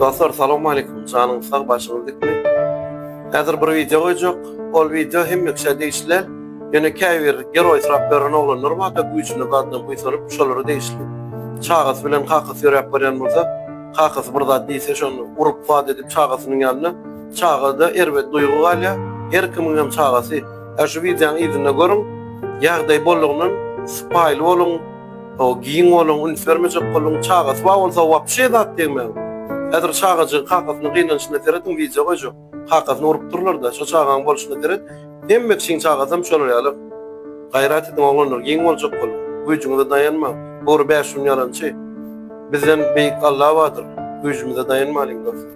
Dostlar, salam aleykum. Janyň sag, başyňyz dikme. Häzir bir video goýjak. Ol video hem mükse degişli. Ýöne käbir geroý syrap beren oglanlar bar da güýjüne gadna buýsanyp, şolara degişli. Çagasy bilen kakasy ýöräp barýan bolsa, kakasy bir zat diýse, şony urup wad edip çagasynyň ýanyna. Çagada erbet duýgy galýar. Her kimiň hem çagasy. Şu videonyň yzynda görüň. Ýagdaý bolugyndan sypaýyly boluň. O giň bolan üns bermejek bolan çagasy bar bolsa wapşe zat degmän. Häzir çagajygy kakasynyň gynanşyna serediň wideo goýjak. Kakasyny urup durlarda şo çagaň bolşyna seret hemme kişiň çagasam şolar ýaly. Gaýrat ediň oglanlar giň boljak boluň. Güýjüňize daýanmaň. Gury bäş gün ýalançy. Bizden beýik Alla bardyr. Güýjümize daýanmalyň dostlar.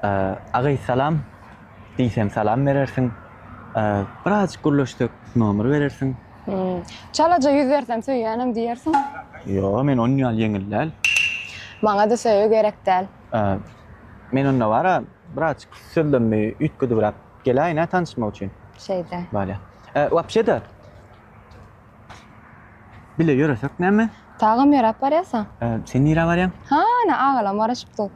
Agaý salam diýsem salam berersiň birazjyk gürleşsek nomer berersiň. Çalaja ýüz bersem söýýänem diýersiň. Ýok men onuň ýaly ýeňil däl. Maňada söýgi gerek däl. Men onda bara birazjyk sözlerimi üýtgedibräk geläýin-ä tanyşmak üçin. Şeýde. Bolýar. Wapşe-de. Bile ýöresek näme? Dagam ýöräp barýarsaň? Ee, sen nirä barýaň? Hany, agalam garaşypdyr.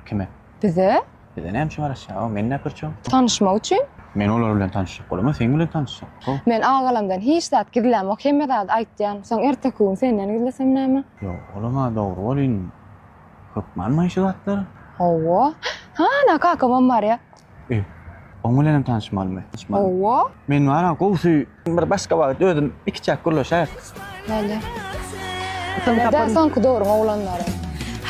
Kime? Bize. Bize näme üçin garaşýar? Aw, meni näp görçäň? Tanyşmak üçin. Men olar bilen tanyşjak bolamok, sen bilen tanyşjak. Ho. Men agalamdan hiç zat gizlämok, hemme zady aýtýan. Soň erteki gün senden gizlesem näme? Ýok, olam-a dogry welin, hökmanmy şu zatlar? Hawa. Hany, kakamam barýa. Öý, oň bilenem tanyşmalymy? Tanyşmaly. Hawa. Men bar-a, gowusy Bir başga wagt özüm ikiçäk gürleşäýik. Bale. Ýa-da soňky döwrüň oglanlary.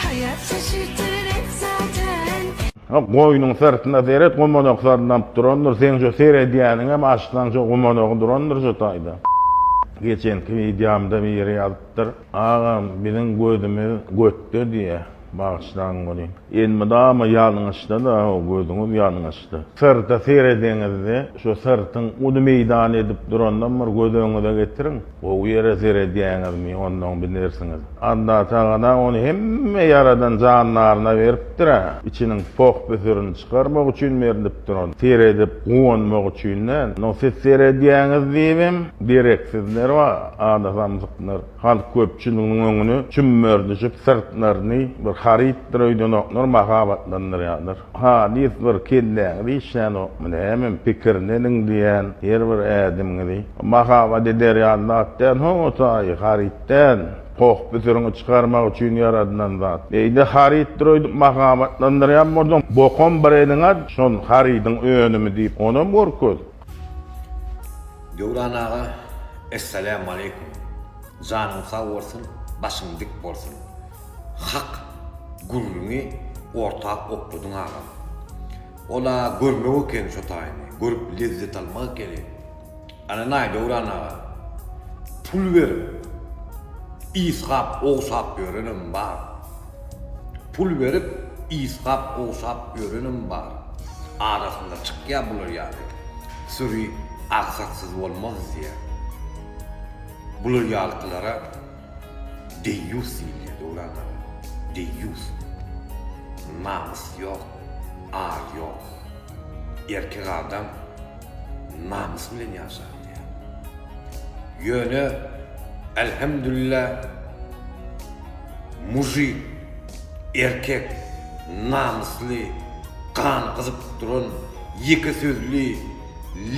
Haýat şaşyrtar et zaten. Hak goýnuň syrtyna seret gumanak sarlap durandyr seň şu seredýäniňem açsaň şu gumanagy durandyr şu taýda geçenki wideomda biri ýazypdyr. Agam, biziň gözümiz götde diýýä, bagyşlaň welin. Elmydama ýalňyşda-da, hawa, gözüňiz ýalňyşdy. Syrta serediňizde, şu syrtyň uly meýdan edip durandan bir göz öňüňize getiriň. Gowy ýere seredýäňizmi, ondan bilersiňiz. Alla tagala ony hemme ýaradan jandaryna beripdir-ä. Içiniň poh-püsürini çykarmak üçin berlipdir ol. Seredip guwanmak üçin däl. Ony siz seredýäňiz diýibem, dereksizler bar. Adasamzyklar halk köpçüliginiň öňüni çümmerdijip, syrtlaryny bir harytdyr öýdenoklar mahabatlandyrýarlar. Halys bir kelläňizi işlänokmy nämemi, pikirini ediň diýýän her bir ädimiňizi. Mahabat eder ýaly zat däl ho o taýy, haryt däl, poh-püsüriňi çykarmak üçin ýaradylan zat. Beýle harytdyr öýdüp mahabatlandyrýan bolsaň, bokum bir eliň at, şol harydyň önümi diýip, onam görkez. Döwran aga Essalamu Aleýkum janyň sag bolsun başyň dik bolsun hak gürrüňi orta okladyň agam ol a görmek ekeni şo taýyny görüp lezzet almak ekeni ananaý Döwran aga pul berip ysgap owsap ýörenem bar. Pul berip ysgap gowşap ýörenem bar. Arasynda çykýa bular ýaly. Süri agsaksyz bolmaz diýýä. Bular ýalkylara deýýus diýilýä Döwran aga. Deýýus. Namys ýok, ar ýok. Erkek adam namys bilen ýaşar. Ýöne Elhemdülillah mujik erkek namysly gany gyzyp duran ýeke sözli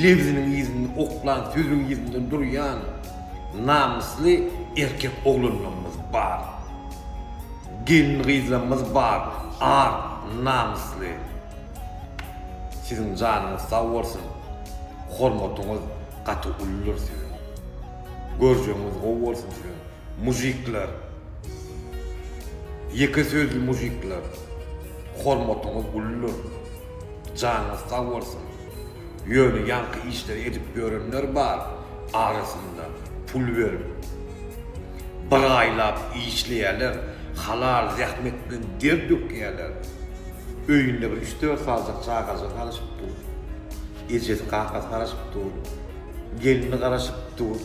lebziniň yzynda oklan sözüň yzynda durýan namysly erkek oglanlarymyz bar. Gelin gyzlarymyz bar ar namysly. Siziň janyňyz sag bolsun hormatyňyz gaty uludyr siziň görjegiňiz gowy bolsun siziň mujikler ýeke sözli mujikler hormatyňyz uludyr janyňyz sag bolsun ýöne ýaňky işleri edip ýörenler bar arasynda pul berip bir aýlap işleýäler halal zähmet bilen der dökýäler Öýünde bir üç-dört saljak çagajygy garaşyp dur. Ejesi, kakasy garaşyp dur. Gelni garaşyp dur.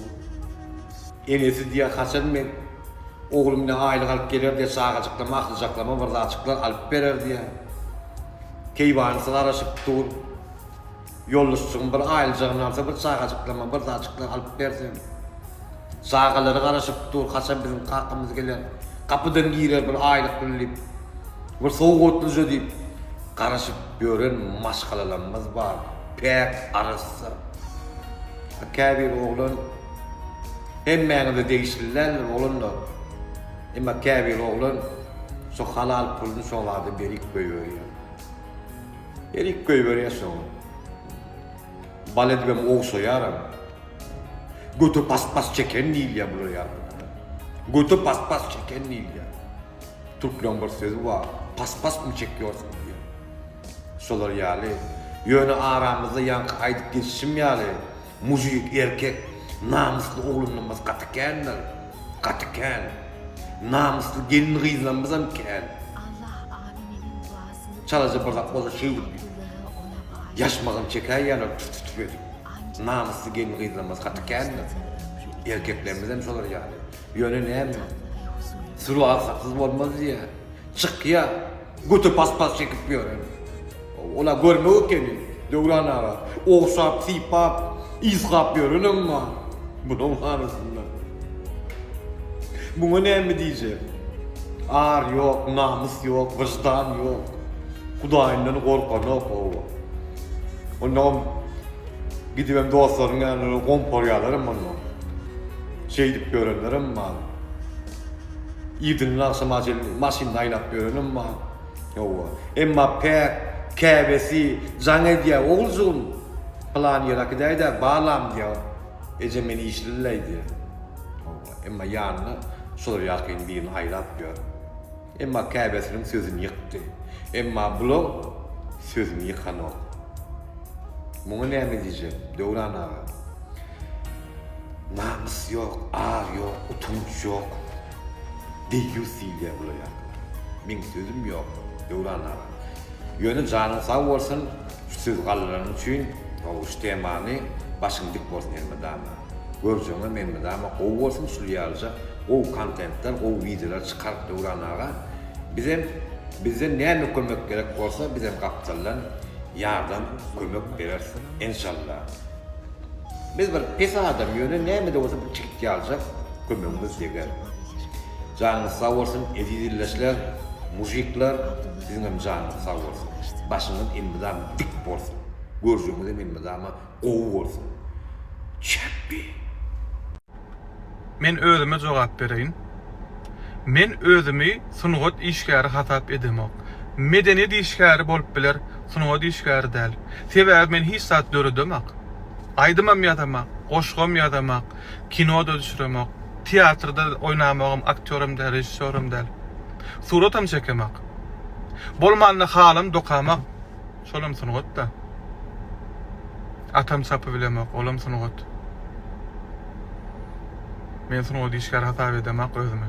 Enesi diýýär, Haçan men ogly bilen aýlyk alyp geler diýýär, çagajyklar, mahlyjaklama bir zatjyklar alyp berer diýýär. Keýwanysy garaşyp dur. Ýoldaşjygym bir aýyljagyn alsa bir çagajyklama bir zatjyklar alyp berseň. Çagalary garaşyp dur haçan biziň kakamyz geler gapydan girer bir aýlyk bilen diýip bir sowgatlyja diýip garaşyp ýören maşgalalarymyz bar päk arassa. A käbir oglan hemmäňize degişli däldir oglanlar emma käbir oglan şo halal puluny şo zada berik goýberýär. Erik goýberýär soň. Bal edibem ogşaýaram. Göte pas-pas çeken diýilýär bular ýagdaýlara. Göte pas-pas çeken diýilýär. Türkleň bir sözi bar, pas-pasmy çekýorsyň diýen. Şolar ýaly. Ýöne aramyzda ýaňky aýdyp geçişim ýaly, Mujik erkek namysly oglanlarymyz gaty kändir gaty kän namysly gelin gyzlarymyzam kän. Allah Amin meniň duasymy Çalaja bir zat bolsa şeýdip Abdullaha ona baý. Ýaşmagyn çekäýýärler tüf tüf edip. Namysly gelin gyzlarymyz gaty kändir. Erkeklerimizem şolar ýaly. Ýöne näme? Sury alsaksyz bolmaz diýýä. Çykýa. Göte paspas çekip ýören. Ola görme ekeni, Döwran aga. Ogşap, sypap, ysgap ýörenem bar. Munuň arasynda. Muňa näme diýjek? Ar ýok, namys ýok, wyždan ýok. Hudaýyndan gorkanok, hawa. Onam gidibem dostlarynyň ýanyna gomparýarlaram onda. Şeýdip ýörenlerem bar. Irden agşama çenli maşynda aýlap ýörenem bar. Hawa. Emma päk, käbesi jaň edýär, Oguljygym, pylan ýere äkidäý-dä, balam diýýär. Eje men işlimleý diýýär. Hawa. Emma ýanyna şular ýakyn birini aýlap ýör. Emma käbesiniň sözüni ýykdy. Emma bulaň sözüni ýykanok. Muňa näme diýjek, Döwran aga? Namys ýok, ar ýok, utanç ýok. Deýýus diýilýä bula ýalylara. Meň sözüm ýok, Döwran aga. Ýöne janyň sag bolsun, şu söz gallalaryň üçin, gowy şu temany başyň dik bolsun elmydama. Görjegiňem elmydama gowy bolsun şul ýalyja gowy kontentler, gowy wideolar çykar Döwran aga. Bizem bizden näme kömek gerek bolsa bizem gapdaldan ýardam, kömek bereris enşalla. Biz bir pes adam ýöne nämede bolsa bir çigit ýaljak kömegimiz deger. Janyňyz sag bolsun eziz illeşler, mujikler siziňem janyňyz sag bolsun. Başyňyz elmydama dik bolsun. Görjegiňizem elmydama gowy bolsun. Çepbi. Men özüme jogap bereýin. Men özümi sungat işgäri hasap edemok. Medeniýet işgäri bolup biler, sungat işgäri däl. Sebäbi men hiç zat döredemak. Aýdymam ýazamak, goşgam ýazamak, kino-da düşüremok. Teatrda oýnamagam, aktýoram däl, režissýoram däl. Suratam çekemak. Bolmanda halam dokamak. Şolam sungat-da. Atam çapy bilemok, olam sungat. Men sungat işgäri hasap edemak özümi.